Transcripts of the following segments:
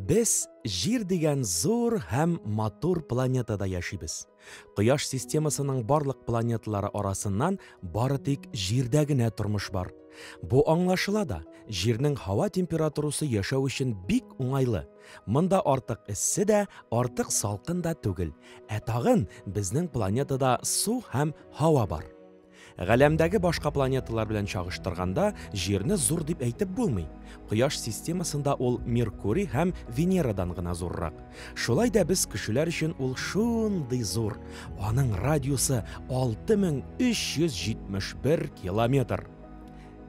Без Җир дигән зур һәм матур планетада яшибез. Кояш системасының барлык планеталары арасыннан бары тик Җирдә генә тормыш бар. Бу аңлашыла да, Җирнең һава температурасы яшәү өчен бик уңайлы. Монда артык эссе дә, артык салкын да түгел. Ә тагын безнең планетада су һәм һава бар. Галәмдәге башка планеталар белән чагыштырганда, Җирне зур дип әйтеп булмый. Кояш системасында ул Меркурий һәм Венерадан гына зуррак. Шулай да без кешеләр өчен ул шундый зур. Аның радиусы 6371 километр.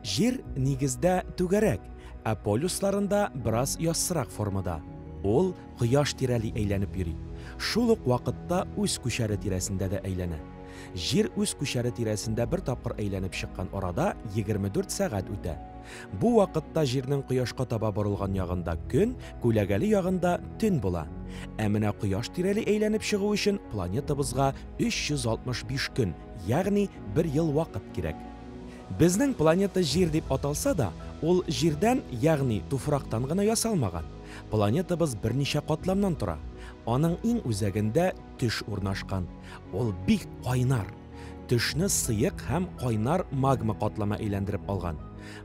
Җир, нигездә, түгәрәк, ә полюсларында бераз яссырак формада. Ул Кояш тирәли әйләнеп йөри, шул ук вакытта үз күчәре тирәсендә дә әйләнә. Җир үз күчәре тирәсендә бер тапкыр әйләнеп чыккан арада 24 сәгать үтә. Бу вакытта Җирнең Кояшка таба борылган ягында көн, күләгәле ягында төн була. Ә менә Кояш тирәли әйләнеп чыгу өчен планетабызга 365 көн, ягъни бер ел вакыт кирәк. Безнең планета Җир дип аталса да, ул Җирдән, ягъни туфрактан гына ясалмаган. Планетабыз берничә катламнан тора. Аның иң үзәгендә төш урнашкан. Ул бик кайнар. Төшне сыек һәм кайнар магма катламы әйләндереп алган.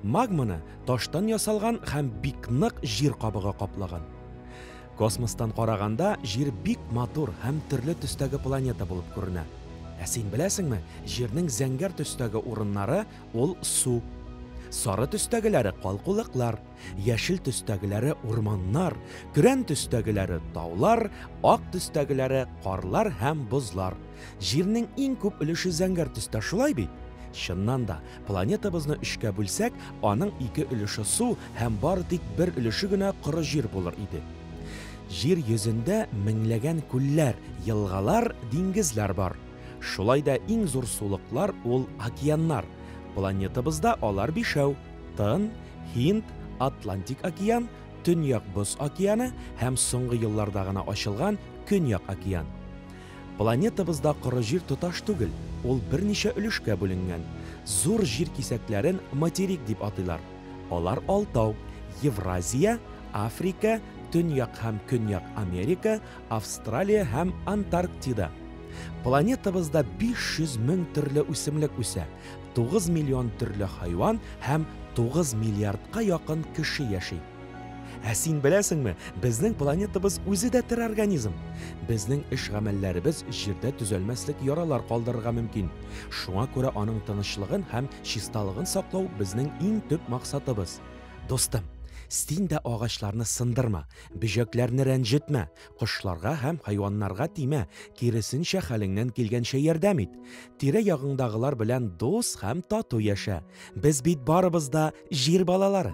Магманы таштан ясалган һәм бик нык җир кабыгы каплаган. Космостан караганда Җир бик матур һәм төрле төстәге планета булып күренә. Ә син беләсеңме, Җирнең зәңгәр төстәге урыннары ул су. Сары төстәгеләре калкулыклар, яшел төстәгеләре урманнар, көрән төстәгеләре таулар, ак төстәгеләре карлар һәм бозлар. Җирнең иң күп өлеше зәңгәр төстә, шулай бит? Чыннан да, Планетабызны өчкә бүлсәк, аның ике өлеше су һәм бары тик бер өлеше генә коры җир булыр иде. Җир йөзендә меңләгән күлләр, елгалар, диңгезләр бар. Шулай да иң зур сулыклар ул океаннар. Планетабызда алар бишәү, Тын, Һинд, Атлантик океан, Төньяк Боз океаны һәм соңгы елларда гына ачылган Көньяк океан. Планетабызда коры җир тоташ түгел, ул берничә өлешкә бүленгән. Зур җир кисәкләрен материк дип атыйлар. Алар алтау, Евразия, Африка, Төньяк һәм Көньяк Америка, Австралия һәм Антарктида. Планетабызда 500 мең төрле үсемлек үсә, 9 миллион төрле хайван һәм 9 миллиардка якын кеше яши. Ә син беләсеңме, безнең планетабыз үзе дә тере организм. Безнең эш-гамәлләребез җирдә төзәлмәслек яралар калдырырга мөмкин. Шуңа күрә аның тынычлыгын һәм чисталыгын саклау безнең иң төп максатыбыз. Дустым, син дә агачларны сындырма, бөҗәкләрне рәнҗетмә, Кошларга һәм хайваннарга тимә, киресенчә хәлеңнән килгәнчә ярдәм ит. Тирә ягыңдагылар белән дус һәм тату яшә. Без бит барыбыз да җир балалары.